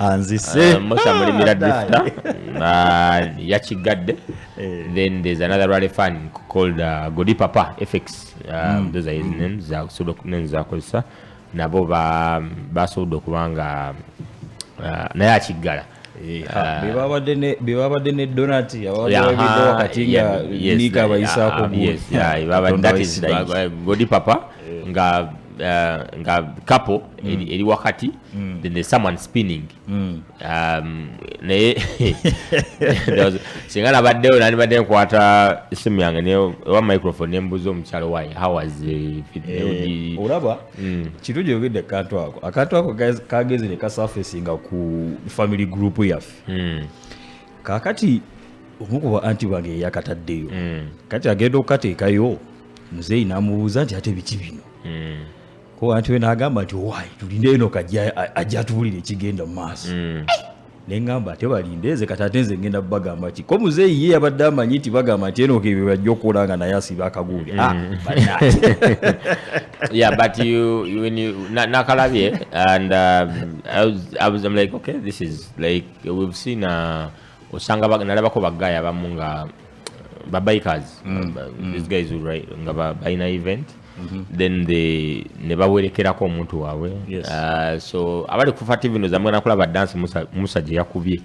anzise uh, musa mulimira drifta uh, yakiggadde eh. then there's another rally fan called uh, godi papa fx um, mm. those are his mm. names zakusobola okunen zakozesa nabo basobodde okuba nga uh, naye akiggala eh, ah, bebabadde ne donat ababadde wakati nga nika abayisaako godi papa nga uh, nga couple mm. eri, eri wakati mm. then there's someone spinning mm. um, naye singa nabaddeyo nandibadde nkwata esimu yange newa microphone nembuuza omukyalo omukyalo waye howas eh, eh, olaba mm. kintu gyogedde akantu ako akantu ako kagezi nekasurfacinga ku family group yaffe mm. kakati omu kuba anti bange eyakataddeyo mm. kati agenda okukateekayo muzeeyi n'amubuuza nti ate biki bino mm. ko anti we n'agamba nti owaayi tulinde eno kajja ajja atuwulira ekigenda mu maaso mm. eh! ne ŋŋamba ate balinde nze kati ate nze ngenda bagamba ki ko muzeeyi ye yabadde amanyi nti bagamba nti enoka ebyo bajja okukola nga naye asiba akaguule ah, mm. yeah but you, you, when you nakalabye and um, I, was, I was I'm like okay this is like we've seen uh, osanga nalabako bagaya abamu nga ba bikers mm. ba, mm. these guys who write nga ba bina event mm -hmm. then they ne bawerekerako omuntu waabwe yes. uh, so abali ku fat vino zamwe nakula ba dance musa musa je yakubye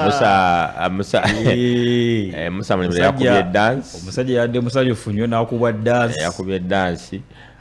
musa uh, musa eh musa mwe yakubye dance omusaje yadde musaje funyo nakubwa dance yakubye dance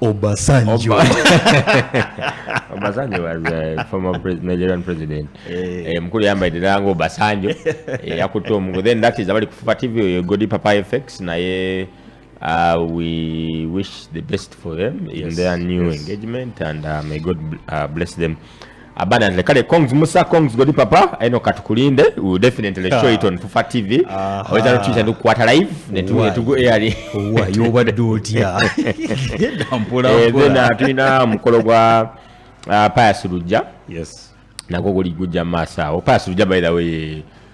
Obasanjo. Obasanjo was a uh, former pre Nigerian president. Eh. Eh, mkuli yamba idina yangu Obasanjo. Eh, ya kutu mgu. Then that is abali kufufa TV uh, Godi Papa FX na ye uh, we wish the best for them yes, in their new yes. engagement and uh, may God uh, bless them. abundantly kale congs musa congs godi papa eno katukulinde will definitely show it on fufa tv aweza no tuja ndukwata live ne tu ne tugo air wa yoba dotia ndampula eh zena tuina mukolo gwa uh, payasuluja yes nagogoli guja masa o payasuluja by the way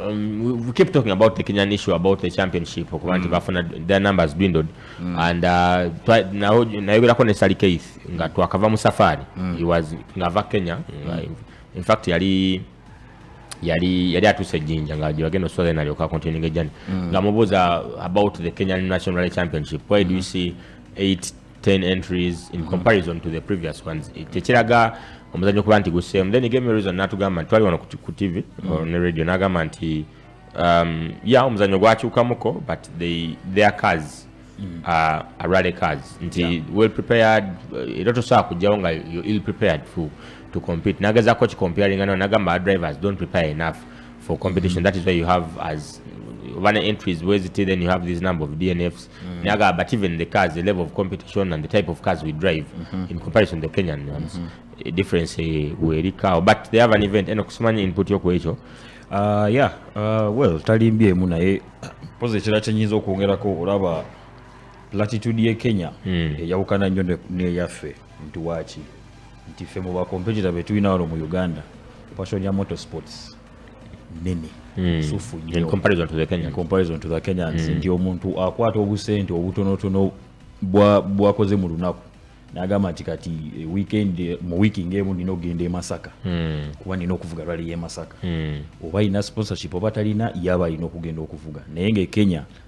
Um, we, we keep talking about the Kenyan issue about the championship okuba nti mm. bafuna their numbers dwindled mm. and uh, nayogerako ne Sally Keith nga twakava mu safari mm. he was ngava Kenya in fact yali yali yali atuuse ejjinja nga gyebagenda oswaza nalyoka continuing ejjani nga mubuuza about the Kenyan national championship why do you see eight 10 entries in mm-hmm. comparison to the previous ones eh, tekiraga omuzanyo okuba nti guseemu then game reason natugamba nti twali wano ku tv mm-hmm. ne radio nagamba nti um, ya omuzanyo gwakyukamuko but they, their cars mm. uh, arale cars nti yeah. well prepared eh, era tosobola kujjawo nga you ill prepared for, to compete nagezako kikomparinga no nagamba our drivers don't prepare enough for competition mm -hmm. that is why you have as one entries where it then you have this number of dnfs mm. naga but even the cars the level of competition and the type of cars we drive mm -hmm. in comparison to kenyan ones mm -hmm. difference eh, werikawo but they have an event eno kusimanya input yoku ekyo uh, yeah uh, well talimbye emu naye poza ekira kyenyinza okwongerako olaba latitude ye kenya mm. eyawukana nnyo neyaffe nti waki nti ffe mu bakompetita betulina wano mu uganda passion ya motorsports nene hmm. sufu nyo in comparison to the Kenyans in comparison to the Kenyans mm. ndi omuntu akwata obusente obutonotono bwa bwakoze mu lunaku nagamba nti kati eh, weekend eh, mu wiki ngemu nina okugenda emasaka mm. kuba nina okuvuga rali yemasaka mm. oba ina sponsorship oba talina yaba alina okugenda okuvuga naye nga ekenya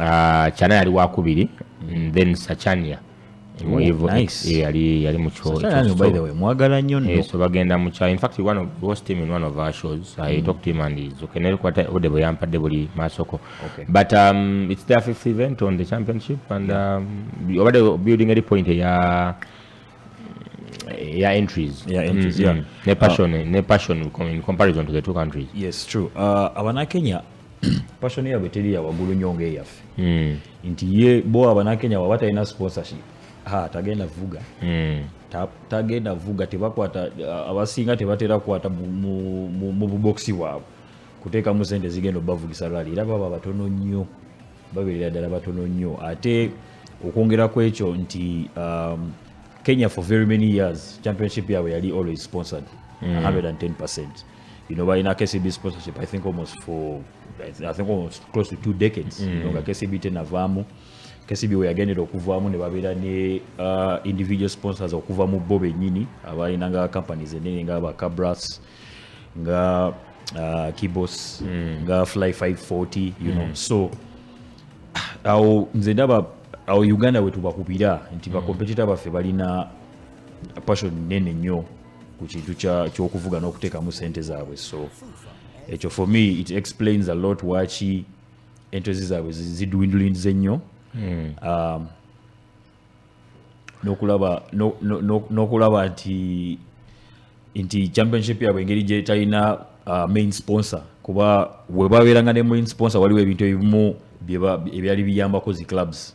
Ah, kyana yali wakubiri mm, then sachania yali mukyomwagala nyo eh, so bagenda mukya infact one of was team in one of our shows i mm. talk to him and is okay nelikwata ode bwe yampadde buli masoko okay. but um, it's their fifth event on the championship and um, obadde um, building eri point eya ya entries ya entries mm, yeah. mm. ne passion uh, ne passion in comparison to the two countries yes true uh, abanakenya passion yabwe teri ya wagulu nyo nga eyaffe mm. nti ye bo abanakenya waba talina sponsorship ha tagenda vuga mm. tagenda vuga tebakwata abasinga tebatera kwata mu bubokisi bwabwe kuteekamu sente zigenda obavugisa rali era baba batono nnyo babeerera ddala batono nnyo ate okwongera ku ekyo nti um, kenya for very many years championship yabwe yali always sponsored mm. 110 you know, in a KCB sponsorship, I think almost for, I think almost close to two decades, mm. you know, mm. KCB tena vamu, KCB we again ro kuvamu ne babira ne uh, individual sponsors okuva mu bo benyini, abali nanga companies enene nga ba Cabras, nga uh, Kibos, mm. nga Fly 540, you mm. know, so, au nze ndaba au Uganda wetu bakubira nti mm. bakompetita baffe balina passion nene nyo ku kintu ky'okuvuga n'okuteekamu sente zaabwe so ekyo for me it explains a lot waki entozi zaabwe zidwindulindize ennyo hmm. um, n'okulaba nti nti championship yaabwe engeri gyetalina uh, main sponsor kuba webabeeranga ne main sponsor waliwo ebintu ebimu ebyali biyambako zi clubs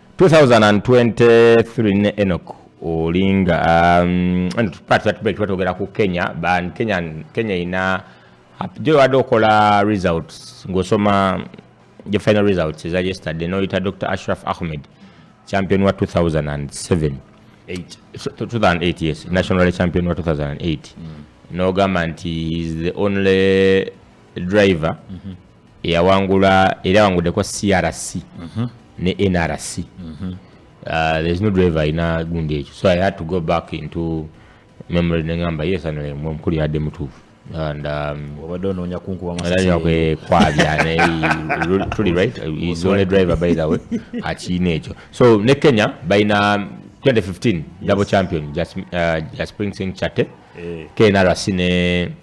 2023 ne Enoch Olinga um, twatwatubekitwatwogera ku Kenya ban Kenya Kenya ina gye wabadde okola results ng'osoma the final results eza yesterday noyita dr ashraf ahmed champion wa 2007 2008 yes national champion wa 2008 mm. nogamba nti is the only driver mm -hmm. eyawangula era awangudeko crc mhm. ne nrc mhm. uh, there's no driver alina gundi ekyo so i had to go back into memory nengamba yes anomukulu yadde mutuufu and um, obadde onoonya kunkubakwabya tuli right is only driver by the way akiina ekyo so ne kenya balina 2015 double champion uh, jaspring sing chate eh. knrc ne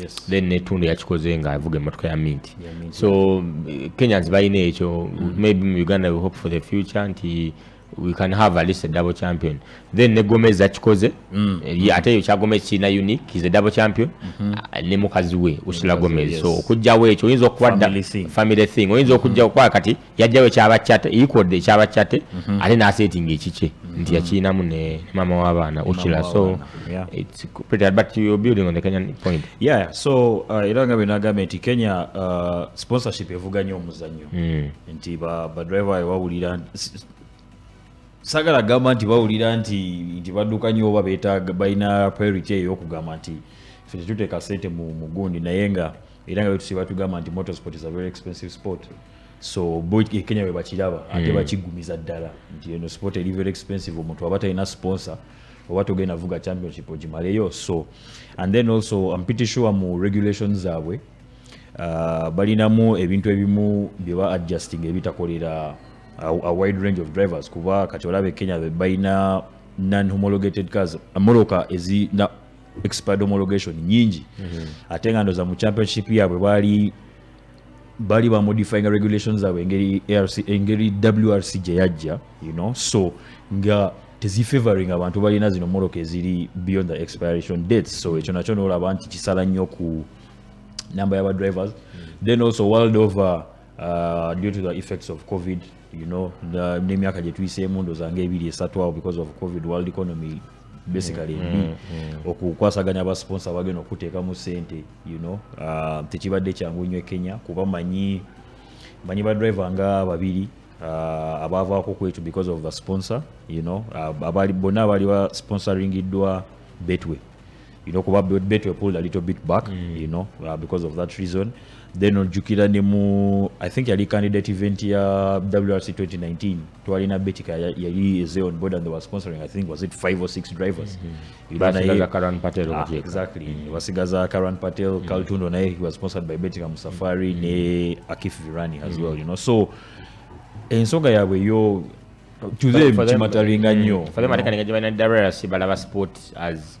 yes. then netundu yakikoze nga avuga emotoka ya minti so eh, kenyans balina ekyo mm. maybe mu uganda we hope for the future nti we can have at least a double champion then ne gomez akikoze mm. Eh, ate eyo kya gomez kirina unique is a double champion mm -hmm. Ah, ne mukazi we usula gomez yes. so okujjawo ekyo oyinza okuba family thing oyinza okujjawo mm -hmm. kwa kati yajjawo ekyabakyate equaled ekyabakyate mhm. ate nasetinga ekikye mhm. nti yakirinamu ne mama w'abaana okila so so uh, era nga bwenagambye nti kenya uh, sponsorship evuga nyo omuzanyo mm. nti badriver bawulira sagala gamba nti bawulira nti nti badduka nyo oba betaaga balina priority eyokugamba nti fe tetuteeka sente mu gundi naye nga era nga betusiba tugamba nti motorsport is a very expensive sport so bo e kenya bwe bakiraba ate hmm. bakigumiza ddala nti eno sport eri very expensive omuntu aba talina sponsor oba togenda vuga championship ogimaleyo so and then also am pretty sure mu regulation zaabwe uh, balinamu ebintu ebimu bye ba adjusting ebitakolera a, a wide range of drivers kuba kati olaba e kenya balina non homologated cars moroka ezi expired homologation nyingi mm -hmm. ate nga ndoza mu championship yabwe bali bali ba modifying regulations zabwe engeri ARC engeri WRC gye yajja you know so nga tezifavoring abantu balina zino moroka eziri beyond the expiration date so ekyo nakyo noolaba nti kisala nnyo ku namba yaba drivers mm -hmm. then also world over uh, due to the effects of covid you know n'emyaka gye tuyiseemu ndoza nga ebiri esatu awo because of covid world economy basically mm, mm, mm. okukwasaganya abasponsa bagenda okuteekamu sente you know uh, tekibadde kyangu nnyo e kenya kuba manyi manyi badriver nga babiri uh, abaavaako ku ekyo because of the sponsor you know uh, bonna abaali ba sponsoringiddwa betway you know kuba betway pulled a little bit back mm. you know uh, because of that reason then ojjukira ne mu i think yali candidate event ya wrc 2019 twalina betika yali eze on board and they were sponsoring i think was it five or six drivers mm -hmm. basigaza karan patel ah, exactly mm. basigaza karan patel mm. kaltundo naye he was sponsored by betika musafari mm. ne akif virani as mm. well you know so ensonga yaabwe yo to them kimataringa nnyo mm. for them atekanenga gye balina wrc balaba sport as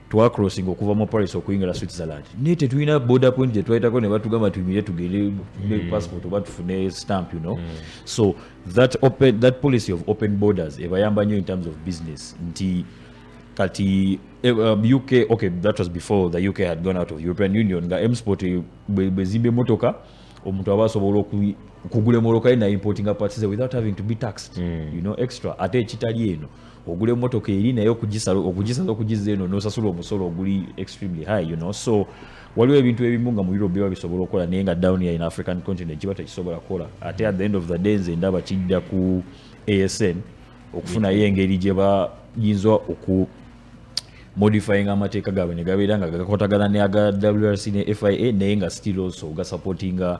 twacrossinga okuva mu paris okuyingira switzerland naye tetulina border point gyetwayitako ne batugamba tuyimire tugende ne mm. passport oba tufune stamp you know mm. so that, open, that policy of open borders ebayamba nnyo in terms of business nti kati eh, um, uk okay that was before the uk had gone out of european union nga msport eh, bwezimba emotoka omuntu aba asobola okugula emoloka ye naimportinga parts without having to be taxed mm. you know extra ate ekitali eno ogula emotoka eri naye okugisala okugisala okugizza eno nosasula omusolo oguli extremely high you know so waliwo ebintu ebimu nga mu europe biba bisobola okukola naye nga down here in african continent kiba tekisobola kukola ate at the end of the day nze ndaba kidda ku asn okufunayo engeri gye bayinza oku modifying amateeka gaabwe ne gabeera nga gakotagana ne aga wrc ne fia naye nga still also gasupportinga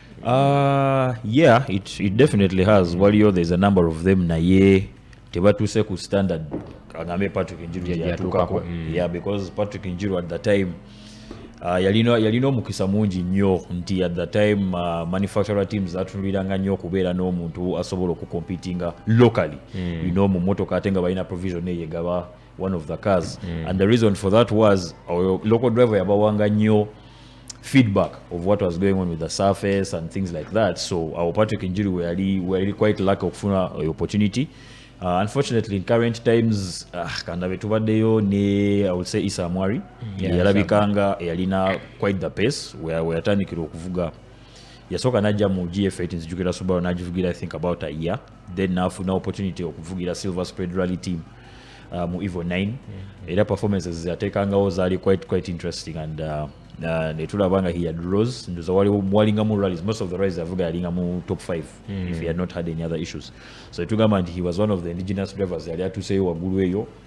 Uh, yeah, it, it definitely has. Waliyo there's a number of them naye tebatuuse ku standard agambe Patrick Njiru yatuukako. Mm. Yeah, because Patrick Njiru at the time Uh, yalina yalina omukisa mungi nnyo nti at the time uh, manufacturer teams zatunuliranga nnyo okubeera n'omuntu asobola okukompitinga locally mm. you know mu motoka ate nga balina provision eyegaba one of the cars mm. and the reason for that was our local driver yabawanga nyo feedback of what was going on with the surface and things like that so our patrick injury were really, were really quite lucky okufuna uh, opportunity Uh, unfortunately in current times uh, ah, kandabe tubaddeyo ne i would say isa amwari mm, yeah, yalabikanga yalina quite the pace weyatandikira okuvuga yasooka najja mu gf 8 nzijukira subaru nagivugira i think about a year then nafuna opportunity okuvugira silver spread rally team uh, mu evo 9 mm -hmm. era performances zatekangawo zaali quite, quite interesting and uh, uh, netulaba nga he had rose ndoza walingamu rallies most of the rallies avuga yalingamu top 5 mm. if he had not had any other issues so etugamba nti he was one of the indigenous drivers yali atuseyo waggulu eyo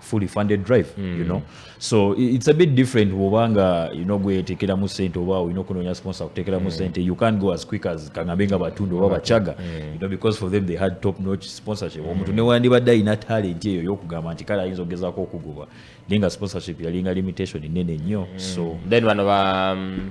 fully funded drive mm. you know so it's a bit different woba nga you know gwetekeramu sente oba olina okunoonya sponsor kutekeramu mm. sente you can't go as quick as kangambe nga batunda oba bacaga mm. you know because for them they had top notch sponsorship mm. omuntu newandibadde alina talent eyo yokugamba nti kale ayinza okugezako okugoba naye nga sponsorship yalinga limitation nene nnyo mm. so then bano ba um,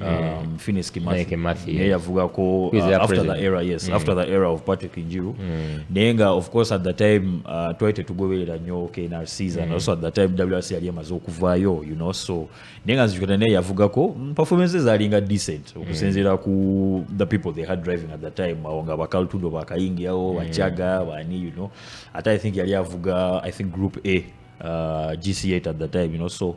yeah. um, Finis Kimathi Kimathi yeah. yavugako uh, after president? the era yes mm. after the era of Patrick Njiru mm. naye nga of course at the time uh, twali tetugoberera nnyo KNRCs mm. and also at the time WRC yali emaze okuvaayo you know so naye nga nzijukira naye yavugako mm, performances alinga decent mm. okusinziira mm. ku the people they had driving at the time awo nga bakaltudo bakayingiawo mm. bachaga bani you know ate i think yali avuga i think group a uh, gc8 at the time you know so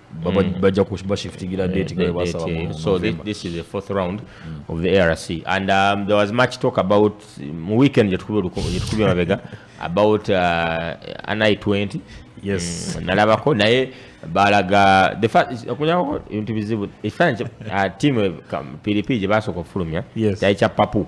Mm. bajja kubashiftingira mm. date nga basaba mu so this, this is the fourth round mm. of the arc and um, there was much talk about mu weekend gyetukubye mabega about uh, ni 20 yes mm, nalabako naye balaga okunyako ebintu bizibu ekifaananyi uh, tiimu pdp gye basooka okufulumya kyali kya papu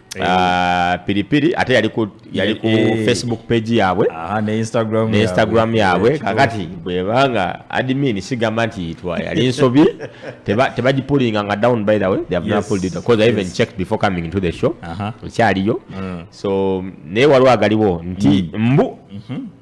Eh. Ah, piripiri ate yali ku yali ku eh. facebook page yaabwe ah, ne instagram ne instagram yaabwe kakati bwebanga admin sigamba nti itwa yali nsobi tebagipulinga nga down by the way they have yes. not pulled it because yes. i even checked before coming into the show ekyaliyo uh -huh. mm. so naye waliwo agaliwo nti mm. mbu mm -hmm.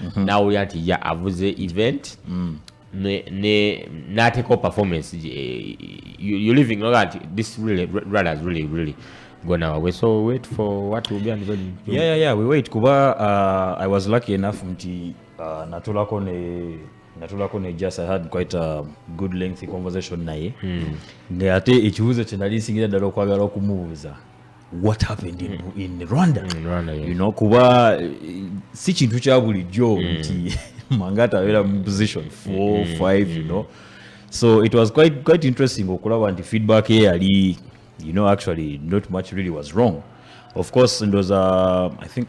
mhm. nawulira nti ya avuze event mm. n'ateekawo performance eh, you living nga nti this really runners really really gone our way so wait for what will be and when yeah yeah yeah we wait kuba uh, i was lucky enough nti uh, natulako ne natulako ne just i had quite a good lengthy conversation naye hmm. nga ate ekibuuzo kye nali nsingira ddala okwagala okumubuuza what happened in, mm. in Rwanda, mm, in Rwanda yes. you know kuba eh, si kintu kya bulijjo mm. nti Mangata abeera mu position 4 5 mm. you know so it was quite quite interesting okulaba nti feedback ye yali you know actually not much really was wrong of course ndoza i think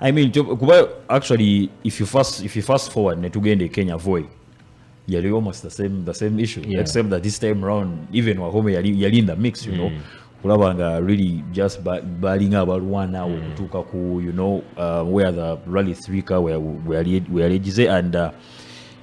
I mean, to, kuba actually if you fast if you fast forward ne tugenda e Kenya voy yali almost the same the same issue yeah. except that this time round even Wahome yali yali in the mix you mm. know kulaba nga really just balinga abalwana awo mm. okutuuka ku you know uh, where the rally three ka weyalegize and uh,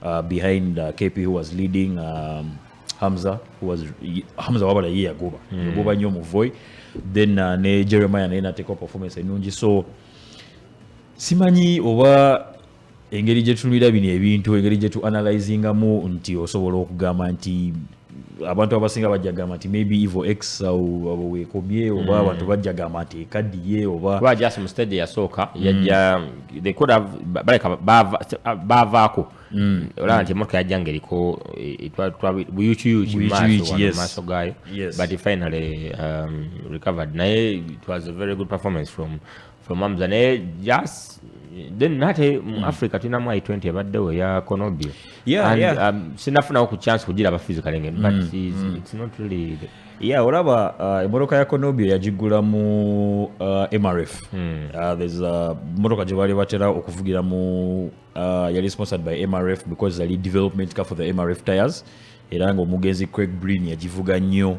Uh, behind uh, KP who was leading um, Hamza who was Hamza wabala ye yagoba mm. yagoba nnyo muvoy then uh, ne Jeremiah naye nateekawo performance ennungi so simanyi oba engeri gye tunulira bino ebintu engeri gye tu analyzingamu nti osobola okugamba nti abantu abasinga bajja gamba nti maybe evo x abo wekomye oba hmm. abantu bajja gamba nti ekadiye oba kuba just mu stage yasooka hmm. yajja they could have baleka baavaako hmm. olaba nti emotoka yajja ngaeriko eh, buyukiyuki maaso gaayo but finally um, recovered naye it was a very good performance from from Hamza naye just then nate mu mm. Africa tulina mu I20 ebaddewo ya Konobio yeah, and yeah. Um, sinafunawo ku chance kugira aba physically ngene but mm, it's, mm. it's not really the... yeah olaba uh, emotoka ya Konobio yagigula mu uh, MRF mm. uh, there's a uh, motoka gye baali batera okuvugira mu uh, yali sponsored by MRF because yali development ka for the MRF tires era nga omugenzi Craig Breen yagivuga nnyo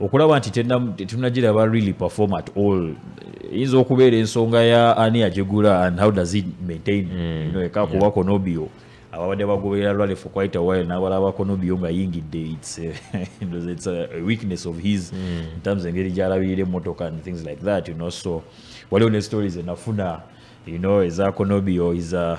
okulaba nti tetunagiraba really perform at all eyinza okubeera ensonga ya ani agigula and how does it maintain mm. no, eka kuba konobio ababadde bagoberera lwale for quite a while nabalaba konobio nga yingidde its eh, it's a weakness of his mm. in terms engeri gyalabirira emotoka and things like that you know so waliwo ne stories enafuna you know eza konobio is a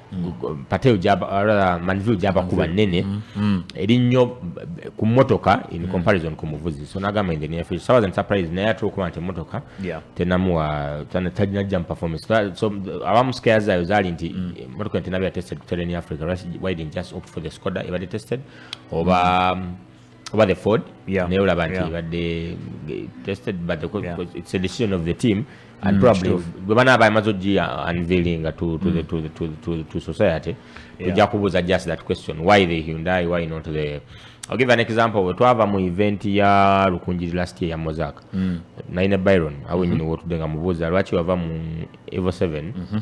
patel manville gyaba kuba nnene mm, mm. eri nnyo ku mmotoka in mm. comparison ku muvuzi so nagamba nze nefe sawa zan surprise naye ate okuba nti emmotoka tenamuwa tajinajja mu performance so abamu skeya zayo zaali nti emmotoka nti nabeera tested kutera in africa why didn't just opt for the scoda ebadde tested oba oba the ford yeah. naye olaba nti yeah. badde tested but the, yeah. it's a decision of the team and mm, probably bwe banaaba amaze ogiya unveilinga to, to, mm. the, to, the, to, to, to society tujja yeah. kubuuza just that question why the hyundai why not the I'll give an example bwe twava mu event ya lukunjiri last year ya mozak mm. naine byron awenyini mm -hmm. wotudde nga mubuuza lwaki wava mu evo 7 mm -hmm.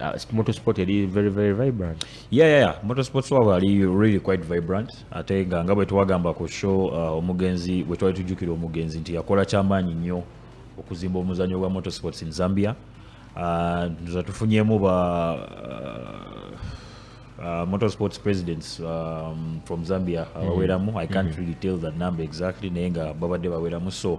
Uh, motorsport yali very very vibrant yeah, yeah, yeah. motorsports wabwe ali really quite vibrant ate nga nga bwe twagamba ku show uh, omugenzi bwe twali tujjukira omugenzi nti yakola kyamaanyi nnyo okuzimba omuzanyo gwa motorsports in zambia uh, nza tufunyemu ba uh, uh, motorsports presidents um, from zambia mm-hmm. abaweramu mm -hmm. i can't mm -hmm. really tell that number exactly naye nga babadde baweramu so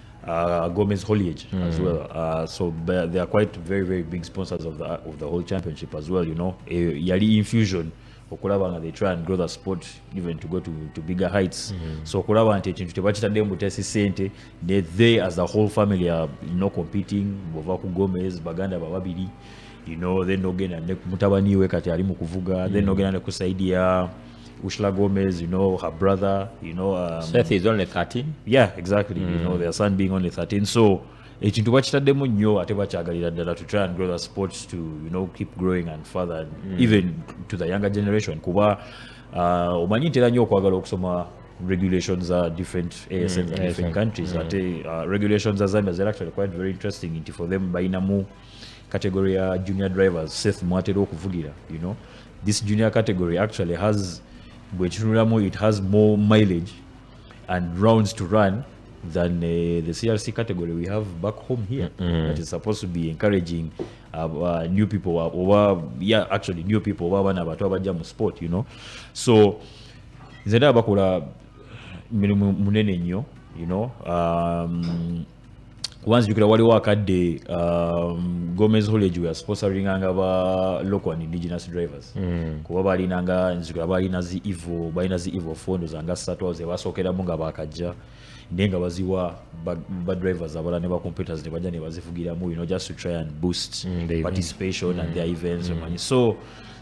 uh, Gomez Holiage mm. as well. Uh, so they are quite very very big sponsors of the of the whole championship as well. You know, a eh, yearly infusion. okulaba nga they try and grow the sport even to go to, to bigger heights mm -hmm. so okulaba nti ekintu tebakitadde mbutesi sente ne they as the whole family are you know, competing bova ku gomez baganda bababiri you know then ogenda ne mutabani we kati ali mu kuvuga mm -hmm. then ogenda ne ku saidi ya Ushla Gomez, you know, her brother, you know. Um, Seth is only 13. Yeah, exactly. Mm. You know, mm. their son being only 13. So, ekintu bakitaddemu nnyo ate bakyagalira ddala to try and grow the sports to you know keep growing and further mm. even to the younger generation kuba uh, omanyi ntera nnyo okwagala okusoma regulations za different asns mm, different countries mm. ate uh, regulations za zambia zera actually quite very interesting nti for them balinamu category ya junior drivers seth mwatera okuvugira you know this junior category actually has bwekitunulamu it has more mileage and rounds to run than uh, the crc category we have back home here mm -hmm. that is supposed to be encouraging uh, uh, new people uh, oba yeah actually new people oba abaana abato abajja mu sport you know so nze ndaba bakola mirimu munene nnyo you know um, kuba nzijukira waliwo akadde um, gomez hollege wea sponsoringanga ba local and indigenous drivers mm. kuba balinanga nzijukira balina zi evo balina zi evo fondo zanga satu awo zebasookeramu nga bakajja naye nga baziwa badrivers abala ne bacomputers ne bajja ne bazivugiramu you know just to try and boost mm, participation mm. and their mm. events mm. so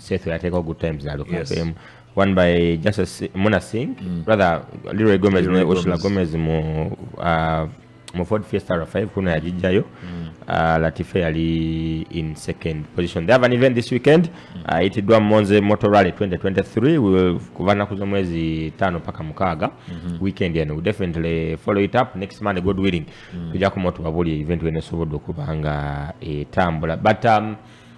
Seth yateekawo good times na Luka yes. FM one by Justice Muna Singh mm. rather Leroy Gomez ne Ursula Gomez mu uh, mu Ford Fiesta R5 kuno yagijjayo mm. uh, Latife yali in second position they have an event this weekend mm. uh, itiddwa Monze Motor Rally 2023 will kuva nnaku z'omwezi tano paka mukaaga mm -hmm. weekend eno we definitely follow it up next Monday God willing mm. tujja kumotubabuulira event wenesobodde okuba nga etambula but um,